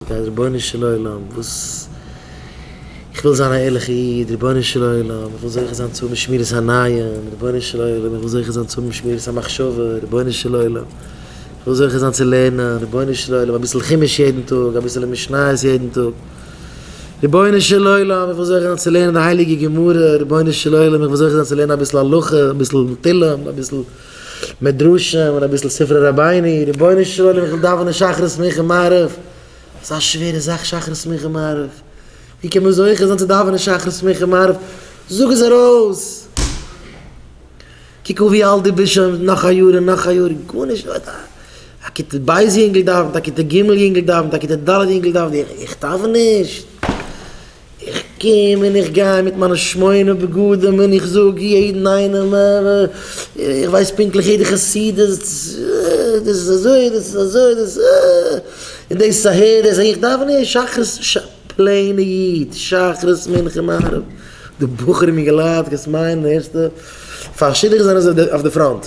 גיי רבונו של עולם וואס איך וויל זיין א ערליכע איד רבונו של עולם איך וויל זוכה זיין צו האבן שמירת העיניים רבונו של עולם איך וויל זוכה זיין צו האבן שמירת המחשבה רבונו של עולם איך וויל זוכה זיין צו לערנען רבונו של עולם אביסל חומש יעדן טאג אביסעלע משניות יעדן טאג רבונו של עולם איך וויל זוכה זיין צו לערנען די הייליגע גמרא רבונו של עולם איך וויל זוכה זיין צו לערנען אביסל הלכה אביסל תהלים אביסל מדרשים און אביסל ספרי רבינו, רבונו של עולם איך וויל דאווענען שחרית מנחה מעריב, אזא שווערע זאך שחרית מנחה מעריב, ווי קען מען זוכה זיין צו דאווענען שחרית מנחה מעריב, זאג עס ארויס, קוק אן ווי אלט דו ביסט שוין, נאך א יאר און נאך א יאר, גארנישט ווערט, א כיתה ב' יונגל דאווענט, א כיתה ג' יונגל דאווענט, א כיתה ד' יונגל דאווענט, איך דאווען נישט? איך קום און איך גיי מיט מיינע שמונה בגדים און איך זאג יעדן איינעם, איך ווייס פונקטליך יעדע חסידות, דאס איז אזוי, דאס איז אזוי, דאס איז דאס אהער, דאס אהין, איך דאווען אהער שחרית, ש ס, פלעינע איד, שחרית מנחה מעריב, די בחורים אינגעלייט, וואס מיינען ערשטע פאר שידוך זענען זיי אויף די פראנט.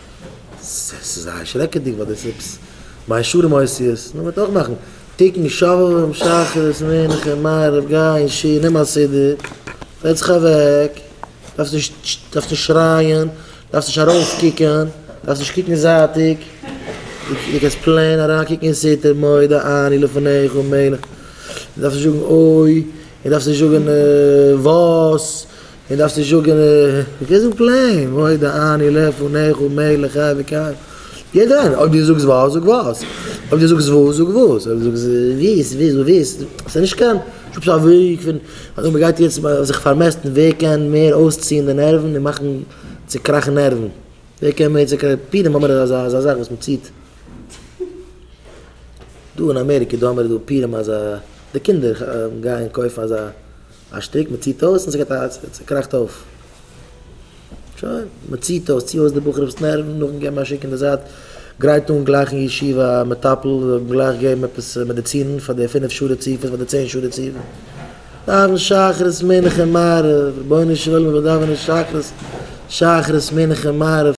ס'איז זייער שרעקעדיג ווייל דאס איז עפעס מיין שלום עושה איז, נו, מ'וועט אויך מאכן תיקון שלום שחרית מנחה מעריב גיי אין שול נעם א סידור, זעץ זיך אוועק, דארפסט נישט דארפסט נישט שרייען, דארפסט נישט ארויסקוקען, דארפסט נישט קוקן זייטיג, דו קענסט פלעין אריינקוקן אין סתר מודה אני לפניך מלך, דארפסט נישט זאגן אוי, און דארפסט נישט זאגן וואס. און דארפסט נישט זאגען איך קען זאגען פלעין מודה אני לפניך ומעיל לך וויקח יעדער איינער אויב די זאגסט וואס זאג וואס אויב די זאגסט וואו זאג וואס אויב די זאגסט וויס וויס דו וויסט סאיז נישט קיין סאיז א וועג פון אזוי מגייט יעצט זיך פארמעסטן ווער קען מער אויסציען די נערוון און מאכן צוקראכן נערוון ווער קען מער צוקראכן פורים האמער איז אזא אזא זאך וואס מציעט דא אין אמעריקע דא האמער דא פורים אז די קינדער גייען קויפן אזא א שטיק, מען ציט אויס און ס'געט א, ס'קראכט אויף. שוין, מען ציט אויס, צי אויס די בחור'ס נערוון, נאכדעם געב מיר א שיק אין די זייט, גרייט אן גלייך אין ישיבה א מטפל, זאל אים גלייך געבן עפעס מעדיצינען פאר די פינף שעה רציפות, פאר די צען שעה רציפות. דאווען שחרית מנחה מעריב, רבונו של עולם איך וויל דאווענען שחרית, שחרית מנחה מעריב.